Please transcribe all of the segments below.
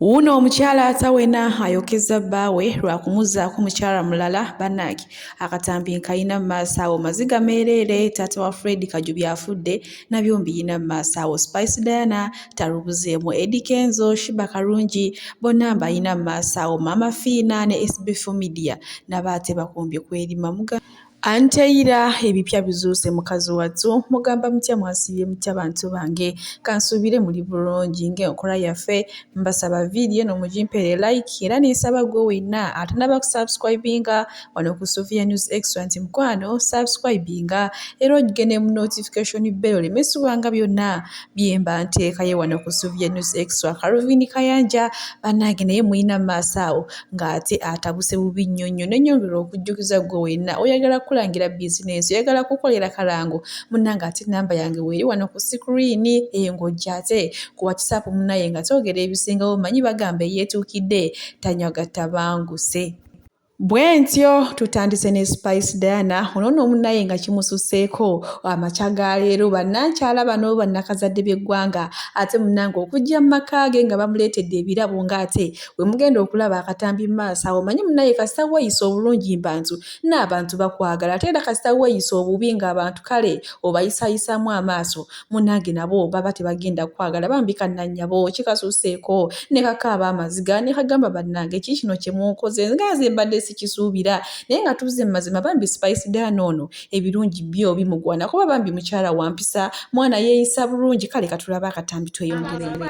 Wuuno omukyala atawena ayokeza bbaawe lwa kumuzzaako mukyala mulala bannange akatambi nkayina mu maaso awo maziga meereere taata wa Fred Kajubi afudde nabyo mbiyina mu maaso awo Spice Diana talubuzeemu Eddy Kenzo Shiba Karungi bonna mbayina mu maaso awo Maama Fiina ne SB4 Media nabo ate bakombye kweri mamuga Anteira ebipya bizuuse mukazi wattu mugamba mutya mwasiibye mutya bantu bange kansuubire muli bulungi ng'enkola yaffe mbasaba vidiyo eno mugimpere like era nensaba gwe wenna atanaba kusubscribinga wano ku Sofia News Extra nti mukwano subscribinga era ogigende mu notification bell oleme subanga byonna byemba nteekayo wano ku Sofia News Extra Calvin Kayanja bannange naye mulina maaso awo ng'ate atabuse bubi nnyo nnyo ne nyongera okujjukiza gwe wenna oyagala kukulangira bizinensi oyagala kukolera kalango munnange ate namba yange weeri wano ku sikuriini eyo ng'ojjate ku watisaapu munnaye nga twogera ebisingawo manyi bagamba eyeetuukidde tanywa gattabanguse bwentyo tutandise ne spice diana ono no omunaye nga kimususeeko amakya ga leero bannankyala bano bannakazadde b'eggwanga ate munange okujja mu maka ge nga bamuleetedde ebirabo ng'ate bwe mugenda okulaba akatambi mu maaso awo manye munaye kasita weeyisa obulungi mbantu n'abantu bakwagala ate era kasita weeyisa obubi ng'abantu kale obayisayisaamu amaaso munange nabo baba tebagenda kwagala bambi kannannyabo kikasuseeko ne kakaaba amaziga ne kagamba bannange ki kino kye munkoze nga nze mbadde sikisuubira naye nga tuzze mu mazima bambi spice daana ono ebirungi byo bimugwana kuba bambi mukyala wampisa mwana yeeyisa bulungi kale katulaba akatambi tweyongerere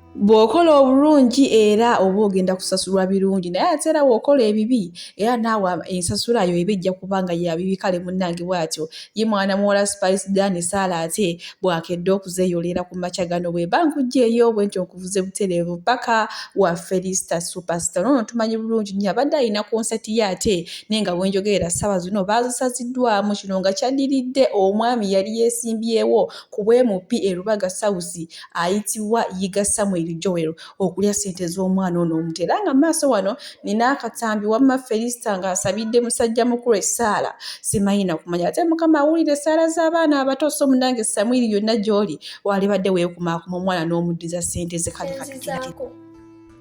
bw'okola obulungi era oba ogenda kusasulwa birungi naye ate era bw'okola ebibi era naawe ensasula yo eba ejja kuba nga ya bibi kale munnange bw'atyo ye mwana muwala spice dan saala ate bw'akedde okuzeeyolera ku makya gano bwe mba nkugyeyo bwe ntyo nkuvuze butereevu paka wa felista superstar noono tumanyi bulungi nnyo abadde alina konsati ye ate naye nga bwenjogerera ssaawa zino baazisaziddwamu kino nga kyaddiridde omwami yali yeesimbyewo ku bwemupi e lubaga sausi ayitibwa Yiga Samuel Joel okulya ssente z'omwana ono omuto era nga maaso wano nina akatambi wamma Felista ng'asabidde musajja mukulu essaala simanyi nakumanya ate mukama awulira essaala z'abaana abato so munange Samwiri yonna gy'oli waalibadde weekumaakuma omwana n'omuddiza ssente ze kale katukiiko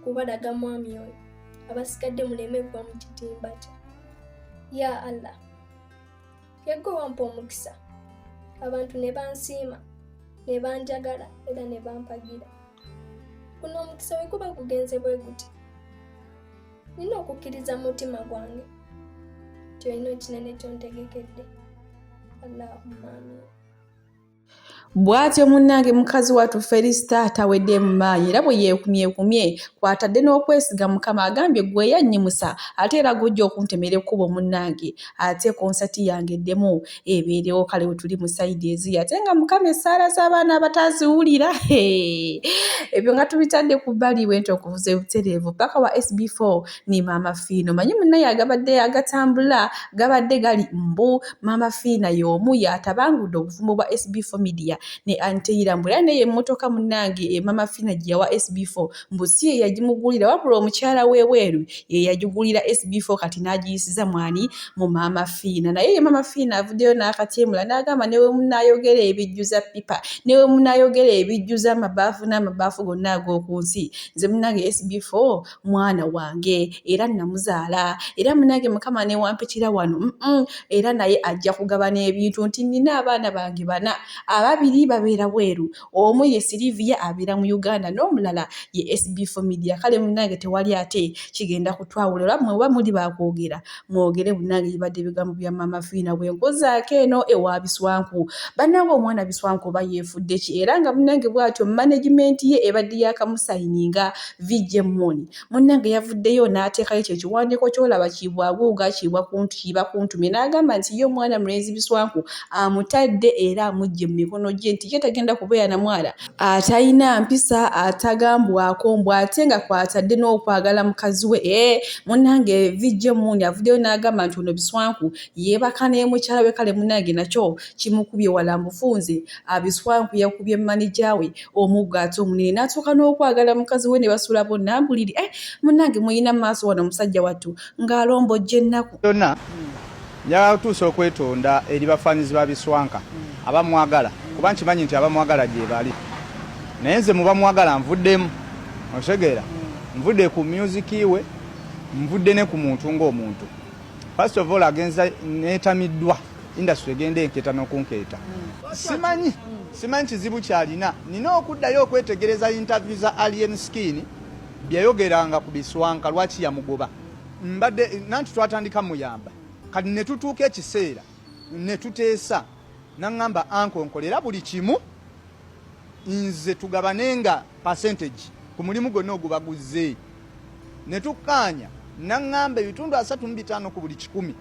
kubalaga mwami oyo abasigadde muleme kuba mu kitimba kye ya allah Yegwe wampa omukisa abantu ne bansiima ne banjagala era ne bampagira. Guno omukisa bwe guba gugenze bwe guti nina okukkiriza mu mutima gwange nti olina ekinene kyontegekedde. Allahumma amin. Bw'atyo munnange mukazi wattu Felisita tawedde mu maanyi era bwe yeekumyekumye kw'atadde n'okwesiga Mukama agambye gwe yannyimusa ate era gw'ojja okuntemera ekkubo munnange ate konsati yange eddemu ebeerewo kale we tuli mu sayidi eziyi ate nga Mukama essaala z'abaana abataziwulira ebyo nga tubitadde ku bbali bwe nti okuvuza obutereevu paka wa SB4 ne maama fiina omanyi munaye agabadde agatambula gabadde gali mbu maama fiina y'omu yatabangudde obufumbo bwa sb4 media ne anteyira mbu era naye emmotoka munnange e maama fiina gye yawa sb4 mbu si ye yagimugulira wabula omukyala w'ebweru ye yagigulira sb4 kati n'agiyisiza mwani mu maama fiina naye ye maama fiina avuddeyo n'akatyemula n'agamba ne we munaayogera ebijjuza pipa ne we munaayogera ebijjuza amabaafu n'amabaafu gonna ag'oku nsi nze munnange sb4 mwana wange era namuzaala era munange mukama newampitira wano era naye ajja kugaba n'ebintu nti nina abaana bange bana ababiri babeera bweru omu ye siliviya abeera mu uganda n'omulala ye sb fomidia kale munange tewali ate kigenda kutwawula ola mwe oba muli bakwogera mwogere bunange bibadde ebigambo bya maama fiina bwe nkuzaako eno ewa biswanku bannange omwana biswanku oba yeefudde ki era nga munnange bw'atyo managimenti ye ebadde yakamusayininga vijje muuni munnange yavuddeyo n'ateekayo ekyo ekiwandiiko ky'olaba kiibwaguuga kiibwa kuntu kiiba kuntumye n'agamba nti ye omwana mulenzi biswanku amutadde era amugye mu mikono gye nti ye tagenda kubeera na mwana atalina mpisa atagambwako mbu ate nga kwatadde n'okwagala mukazi we e munange vijja emundi avuddeyo n'agamba nti ono biswanku yeebaka naye mukyala we kale munange nakyo kimukubye wala mufunze abiswanku yakubye manija we omuggo ate omunene n'atuuka n'okwagala mukazi we ne basula bonna mbuliri e eh, munange muyina maaso wano omusajja wattu ng'alombojja ennaku yonna Njagala kutuusa okwetonda eri bafaanizi ba Biswanka abamwagala kuba nkimanyi nti abamwagala gyebali naye nze mubamwagala nvuddemu otegeera nvudde ku myuziki we nvudde ne ku muntu ng'omuntu first of all agenza neetamiddwa industry egenda enkeeta n'okunkeeta simanyi simanyi kizibu kyalina nina okuddayo okwetegereza interview za alien skin byeyayogeranga ku biswanka lwaki yamugoba mbadde nanti twatandika muyamba kati ne tutuuka ekiseera ne tuteesa naŋŋamba anko nkolera buli kimu nze tugabane nga percentage ku mulimu gwonna ogubaguzze ne tukkaanya naŋŋamba ebitundu asatu mu bitaano ku buli kikumi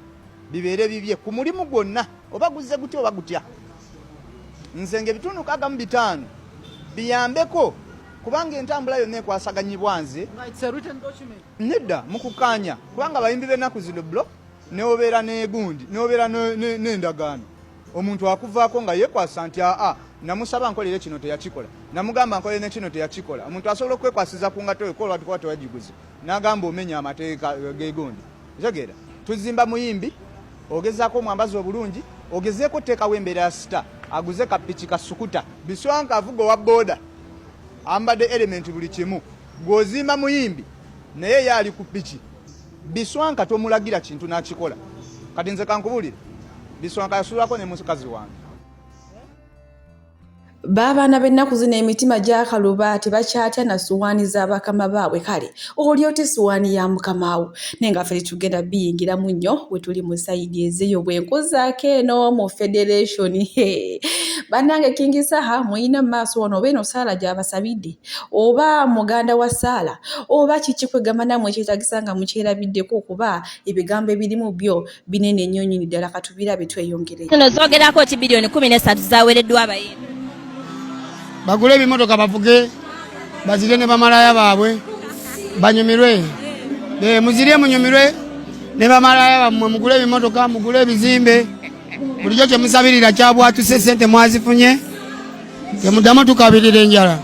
bibeere bibye ku mulimu gwonna oba guzze gutya oba gutya nze ngaebitundu kaga mu bitaano biyambeko kubanga entambula yonna ekwasaganyibwa nze Nedda mukukaanya kubanga abayimbi b'ennaku zino blo newobeera negundi newobeera n'endagaano omuntu akuvaako nga yekwasa nti aa namusaba nkolere kino teyakikola namugamba nkolere nekino teyakikola omuntu asobola okwekwasiza ku ngato ekola tukuba tewagiguze nagamba omenya amateeka eh, gegundi otegeera tuzimba muyimbi ogezaako omwambazi obulungi ogezeeko oteekawo embeera ya sita aguze kapiki kasukuta biswanka avuga owa booda ambadde elementi buli kimu Gw'ozimba muyimbi naye ye ali ku piki. Biswanka tomulagira kintu n'akikola. Kati nze kankubulire, Biswanka yasulako ne mukazi wange. Baabaana b'ennaku zino emitima gyakaluba tebakyatya na suwaani za bakama baabwe kale oli otya essuwaani ya mukama wo naye nga ffe tetugenda biyingiramu nnyo we tuli mu sayidi ezeyo bwe nkuzaako eno mu federation bannange kingisaha mulina mu maaso wano oba eno saala gyabasabidde oba muganda wa saala oba kiki kwegamba namwe ekyetagisa nga mukyerabiddeko okuba ebigambo ebirimu byo binene ennyo nyini ddala katubirabe tweyongere no zogerako ki biliyoni kumi nesatu zawereddwa abayimbi bagule ebimotoka bavuge bazirye ne bamalaya baabwe banyumirwe muzirye munyumirwe ne bamalaya bammwe mugule ebimotoka mugule ebizimbe bulijjo kyemusabirira kyabwatuse sente mwazifunye temuddamu tukabirira enjala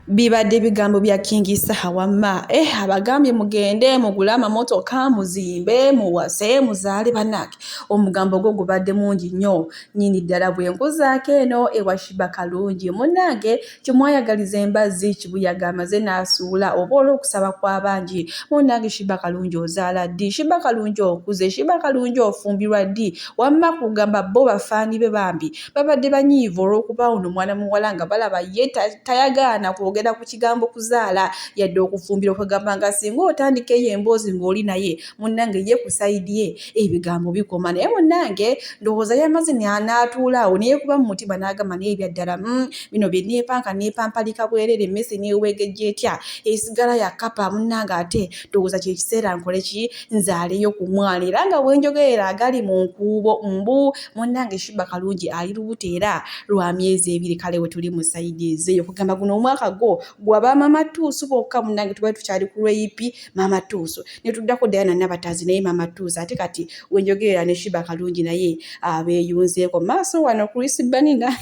bibadde ebigambo bya kingi saha wamma eh abagambye mugende mugule amamotoka muzimbe muwase muzaale banake omugambo gwo gubadde mungi nnyo nyini ddala bwe nkuzaako eno ewashiba kalungi munange Kyemwayagaliza embazzi kibuyaga amaze nasuula oba olwokusaba kwabangi munange shiba kalungi ozaala ddi shiba kalungi okuze shiba kalungi ofumbirwa ddi wamma kugamba bo bafaani be bambi babadde banyiivu olwokuba ono mwana muwala nga balaba ye tayagaana kwogera ku kigambo kuzaala yadde okufumbirwa kwegamba nga singa otandika eyo emboozi ng'oli naye munnange ye ku sayidi ye ebigambo bikoma naye munnange ndowooza yamaze n'atuula awo neyekuba mu mutima n'agamba naye ebyaddala mm, bino bye neepanka neepampalika bwerere emmese neewegejja etya esigala ya kapa munnange ate ndowooza kye kiseera nkole ki nzaaleyo ku mwana era nga bwenjogerera agali mu nkuubo mbu munnange shiba kalungi ali lubuto era lwa myezi ebiri kale we tuli mu sayidi ezeeyo kugamba guno omwaka gwo gwa bamaama tuusu bokka munnange tubali tukyali ku lweyipi maama tuusu ne tuddako Diana Nabataazi naye Maama Tuuza ate kati we njogerera ne Shiba Kalungi naye abeeyunzeeko maaso wano Chris Banina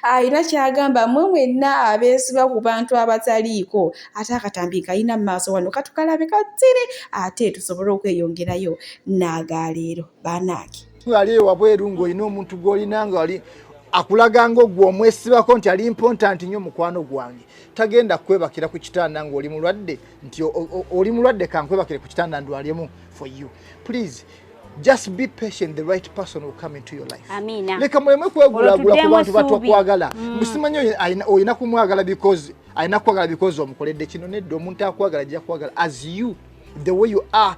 alina kyagamba mwe mwenna abeesiba ku bantu abataliiko ate akatambi kalina maaso wano katukalabe katire ate tusobole okweyongerayo n'agaleero banaaki ali ewabweru ng'olina omuntu gw'olina ngaali akulaga ngaogwe omwesibako nti ali mpontanti nnyo mukwano gwange tagenda kwebakira ku kitanda ng'oli mulwadde nti oli mulwadde kankwebakire ku kitanda ndwalemu for you please just be patient the right person will come into your life amina leka muleme kwegulagula ku bantu batakwagala mm. musimanyi oyina kumwagala because ayina kwagala because omukoledde kino nedda omuntu akwagala ajja kwagala as you the way you are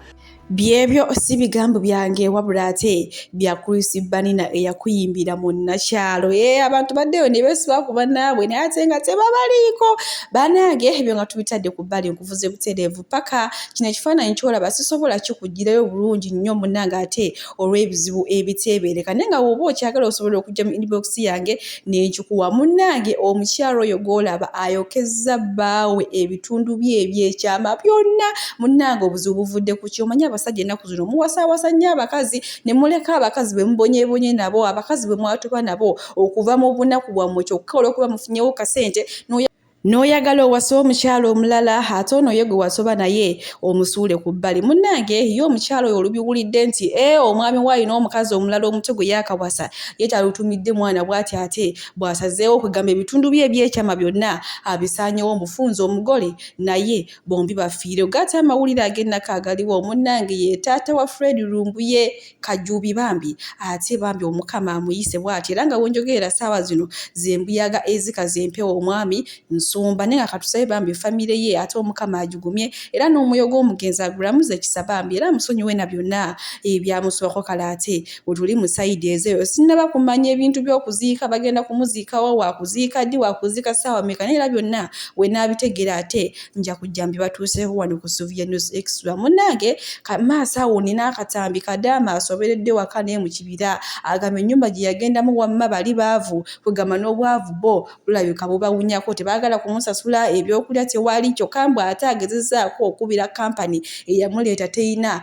Byebyo si bigambo byange wabula ate bya Chris Banina eyakuyimbira mu nnakyalo. Ee eh, abantu baddeyo ne beesiba ku bannaabwe naye ate nga tebabaliiko. Banange ebyo nga tubitadde ku bbali nkuvuze butereevu paka kino ekifaananyi ky'olaba sisobola kikugirayo bulungi nnyo munnange ate olw'ebizibu ebiteebeereka naye nga woba okyagala osobola okujja mu inbox yange nenkikuwa munnange omukyalo oyo gwolaba ayokezza bbaawe ebitundu bye ebyekyama byonna munnange obuzibu buvudde ku kyomanya abasajja ennaku zino muwasaawasa nnyo abakazi ne muleka abakazi bwe mubonyebonye nabo abakazi bwe mwatuba nabo okuva mu bunaku bwammwe kyokka olwokuba mufunyewo kasente noya n'oyagala owase omukyala omulala ate ono ye gwe wasoba naye omusuule ku bbali munnange ye omukyala oyo olubiwulidde nti e omwami we alina omukazi omulala omuto gwe yaakawasa ye talutumidde mwana bw'ati ate bw'asazeewo okugamba ebitundu bye ebyekyama byonna abisaanyewo omufunza omugole naye bombi bafiire ogaate amawulire ag'ennaku agaliwo munnange ye taata wa fred lumbuye Kajubi bambi ate bambi omukama amuyise bwati era nga wenjogerera saawa zino zembuyaga ezika zempewo omwami nsumba naye nga katusabe bambi famire ye ate omukama agigumye era n'omwoyo gw'omugenzi agulamuze ekisa bambi era amusonyiwe na byonna ebyamusubako kale ate wetuli mu sayidi ezeyo sinnaba kumanya ebintu by'okuziika bagenda kumuziikawa wakuziika ddi wakuziika saawa meka naye era byonna wenaabitegeera ate nja kujja mbibatuuseeko wano ku suvia news extra munnange maaso awo nina akatambi kadaama asoberedde waka naye mu kibira agamba ennyumba gye yagendamu wamma bali baavu kwegamba n'obwavu bo bulabika bubawunyako tebaagala kumusasula ebyokulya tewali kyokka mbu ate agezezaako okubira kampani eyamuleeta teyina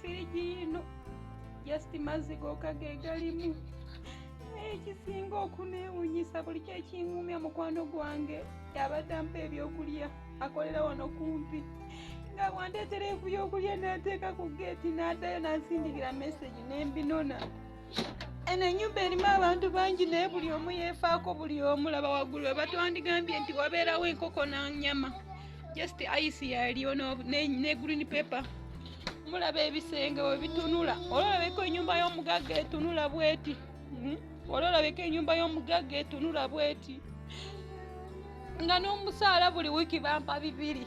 firigi yino just mazzi goka gegalimu naye ekisinga okunewunyisa buli kyekiŋumya mukwano gwange yabadde ampa ebyokulya akolera wano kumpi nga bwandeetera ebyokulya nateeka ku geeti n'addayo nansindikira meseji nembinona eno enyumba erimu abantu bangi naye buli omu yefaako buli omu laba waggulu we batwandigambye nti wabeerawo enkoko nanyama just ice yaliyo ne green paper mulaba ebisenge we bitunula olwolabeko enyumba y'omugagga etunula bweti hmm? olwolabeko enyumba y'omugagga etunula bweti nga n'omusaala buli wiiki bampa bibiri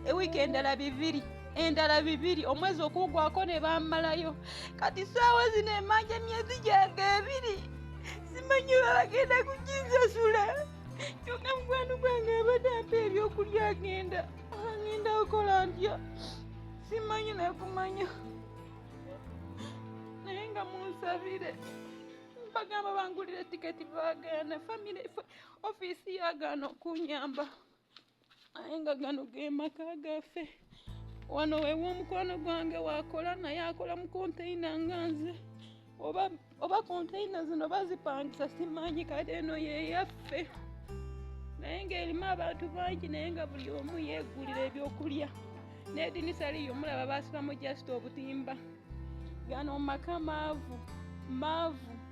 ewiiki endala bibiri endala bibiri omwezi okuggwako ne bammalayo kati saawa zino emanja emyezi gyange ebiri simanyi oba bagenda kukinsasula kyonga mukwano gwange abadde ampa ebyokulya agenda agenda okola ntya simanyi nakumanya naye nga munsabire bagamba bangulire tiketi bagaana famire ofiisi yagaana okunyamba aye nga gano ge maka gaffe wano wewa omukwano gwange wakola naye akola mu konteyina nga nze oba oba konteyina zino bazipangisa simanyi kati eno yeyaffe naye ngaerimu abantu bangi naye nga buli omu yegulira ebyokulya nedinisa liyo mulaba basibamu just obutimba gano maka maavu maavu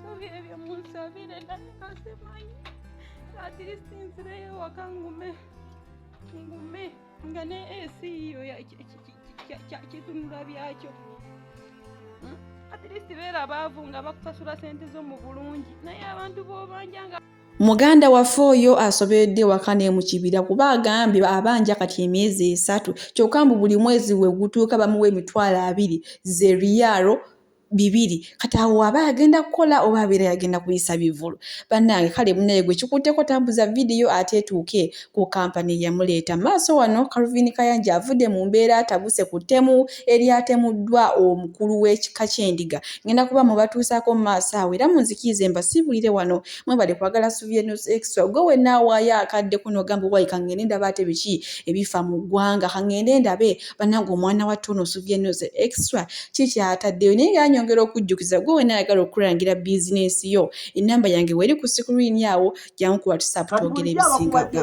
Sobi ebyo munsabire naye kasimanyi atirisiti nzireyo waka ngume ngume nga ne esi yiyo kyakitunula byakyo atirisiti beera abaavu nga bakusasula sente zo mu bulungi naye abantu bobanja nga muganda waffe oyo asoberedde ewaka ne mu kibira kuba agambye abanja kati emyezi esatu kyokka mbu buli mwezi we gutuuka bamuwa emitwalo abiri ze riyaalo bibiri kati awo waba agenda kukola oba abeera yagenda kuyisa bivulu bannange kale munaye gwe kikutteko tambuza vidiyo ate etuuke ku kampani eyamuleeta maaso wano kalvin kayanja avudde mu mbeera atabuse ku ttemu eryatemuddwa omukulu w'ekika ky'endiga ngenda kuba mubatuusaako mu maaso awo era munzikiize mbasiibulire wano mwebale kwagala suvienos extra gwe wenna awaayo akadde kuno ogamba owayika ngende ndaba ate biki ebifa mu ggwanga kangende ndabe banange omwana wa tuuno osuvya nnyo ze extra kiki ataddeyo naye nga anyongera okujjukiza gwe wena ayagala okukulangira bizinensi yo enamba yange weri ku sikulini awo jankukuba tusapu twogera ebisingaga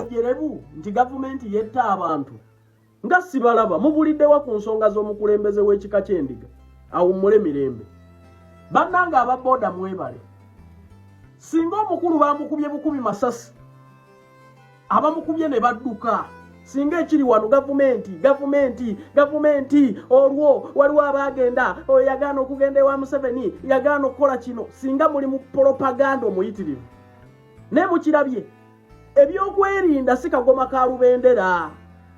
nti gavumenti yetta abantu nga sibalaba mubuliddewa ku nsonga z'omukulembeze w'ekika ky'endiga awummule mirembe bannange aba booda mwebale singa omukulu bamukubye bukubi masasi abamukubye ne badduka singa ekiri wano gavumenti gavumenti gavumenti olwo waliwo abaagenda oyo yagaana okugenda ewa museveni yagaana okukola kino singa muli mu polopaganda omuyitirivu naye mukirabye ebyokwerinda si kagoma ka lubendera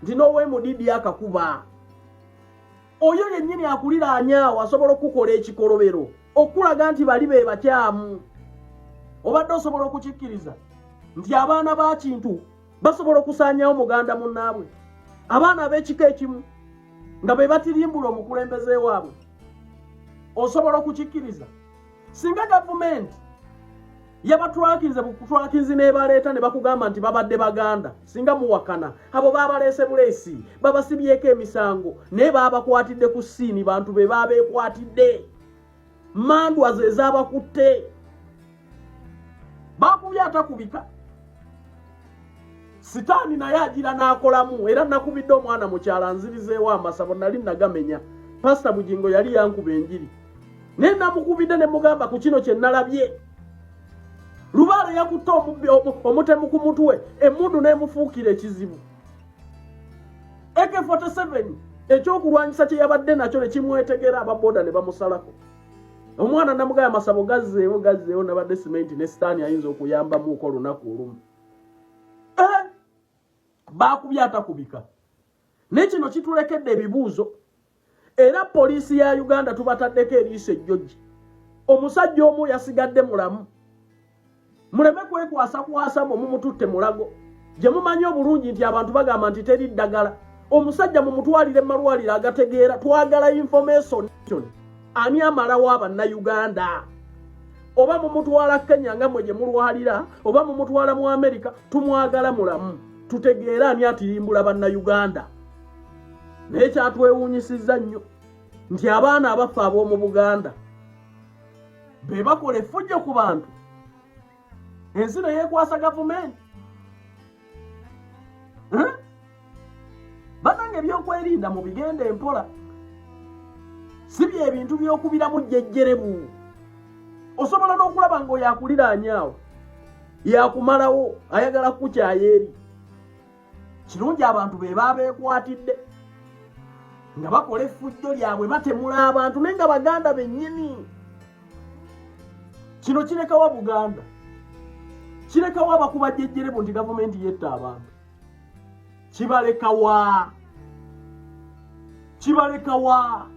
nti n'owemudidi akakuba oyo yennyini akuliraanyaawo asobola okukukola ekikolobero okulaga nti bali be bakyamu obadde osobola okukikkiriza nti abaana ba kintu basobola okusaanyawo muganda munnaabwe abaana ab'ekika ekimu nga be batirimbula omukulembeze waabwe osobola okukikkiriza singa gavumenti yabatwakinze bukutwakinzi nebaleeta ne bakugamba nti babadde baganda singa muwakana abo babaleese buleesi babasibyeko emisango naye babakwatidde ku siini bantu be babeekwatidde mandwa ze zabakutte bakubye atakubika sitaani naye agira n'akolamu era nakubidde omwana mukyala nzirizeewo amasabo nali nagamenya pasita bugingo yali yankuba enjiri naye namukubidde ne mugamba ku kino kye nalabye lubaale yakutte omutemu ku mutwe emundu n'emufuukira ekizibu ak47 ekyokulwanyisa kye yabadde nakyo ne kimwetegera ababoda ne bamusalako omwana namugaya amasabo gazzeewo gazzeewo nabadde simenti ne sitaani ayinza okuyambamuuko olunaku olumu eh! baakubyatakubika naye kino kitulekedde ebibuuzo era poliisi ya uganda tubataddeko eriiso ejjoji omusajja omu yasigadde mulamu muleme kwekwasa kwasa mwe mumututte mulago gye mumanyi obulungi nti abantu bagamba nti teri ddagala omusajja mumutwalire mumalwaliro agategeera twagala information ani amalawo abannayuganda oba mumutwala kenya nga mwe gye mulwalira oba mumutwala mu amerika tumwagala mulamu tutegeere ani atirimbula bannayuganda naye kyatwewuunyisizza nnyo nti abaana abaffe ab'omu buganda be bakola effujjo ku bantu ensi ne yeekwasa gavumenti banange ebyokwerinda mu bigenda empola si byebintu byokubiramu jjejjerebu osobola n'okulaba nga oyo akuliraanyaawo yakumalawo ayagala kukukyayo eri kirungi abantu be baabeekwatidde nga bakola effujjo lyabwe batemula abantu naye nga baganda bennyini kino kirekawa buganda kirekawa abakuba jejjerebu nti gavumenti yetta abantu kibalekawa kibalekawa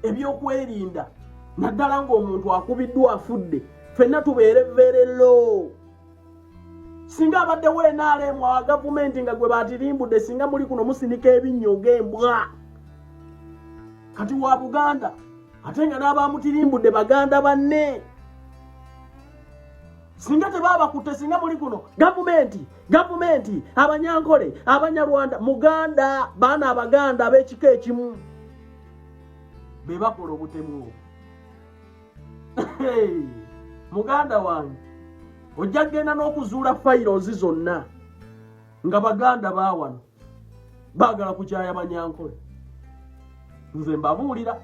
ebyokwerinda naddala ng'omuntu akubiddwa afudde fenna tubeere verelo singa abaddewo enaalemu awa gavumenti nga gwe batirimbudde singa muli kuno musinika ebinnyo ng'embwa kati wa buganda ate nga n'abamutirimbudde baganda banne singa tebabakutte singa muli kuno gavumenti gavumenti abanyankole abanyarwanda muganda baana abaganda ab'ekika ekimu be bakola obutemu obwo muganda wange ojja kugenda n'okuzuula fayirozi zonna nga baganda bawano baagala kukyaya banyankole nze mbabuulira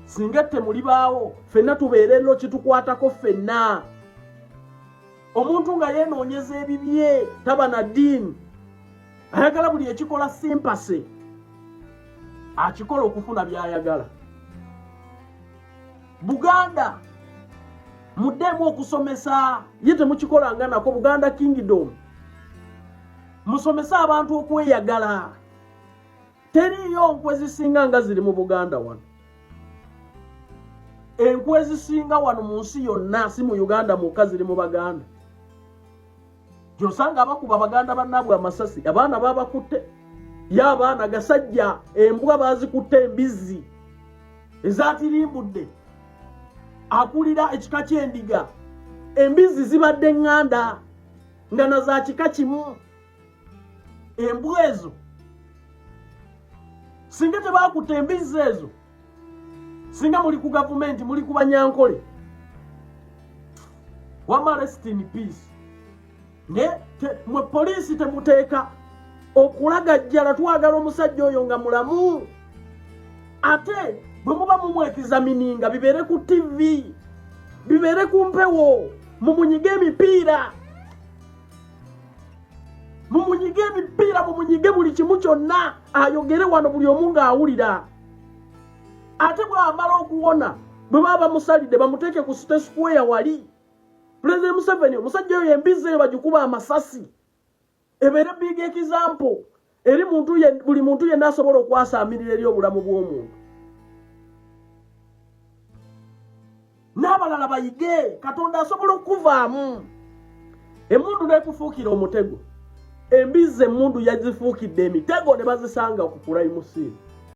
singa ette muli baawo fenna tubeere no kitukwatako fenna omuntu nga yenoonyeza ebibye taba na diini ayagala buli ekikola simpase akikola okufuna byayagala buganda muddemu okusomesa ye temukikolanga nako buganda kingdom musomese abantu okweyagala teriiyo nkwe zisinga nga ziri mu buganda wano enkwe zisinga wano mu nsi yonna si mu uganda mwokka ziri mu baganda gyosanga abakuba baganda bannaabwe amasasi abaana babakutte ye abaana gasajja embwa bazikutte embizzi ezatirimbudde akulira ekika ky'endiga embizzi zibadde ŋŋanda nga na za kika kimu embwa ezo singa tebakutte embizzi ezo singa muli ku gavumenti muli ku banyankole wama rest in peace naye mwe poliisi temuteeka okulagajjala twagala omusajja oyo nga mulamu ate bwe muba mumwekizamininga bibeere ku tivi bibeere ku mpewo mumunyige emipiira mumunyige ebipiira mumunyige buli kimu kyonna ayogere wano buli omu ng'awulira ate bw'amala okuwona bwe baba bamusalidde bamuteeke ku site square wali pulezidenti museveni omusajja oyo embizzi eyo bagikuba amasasi ebeere big example eri muntu buli muntu yenna asobola okwasaamirira eri obulamu bw'omuntu n'abalala bayige katonda asobola okukuvaamu emundu n'ekufuukira omutego embizzi emundu yazifuukidde emitego ne bazisanga ku kulayimusiini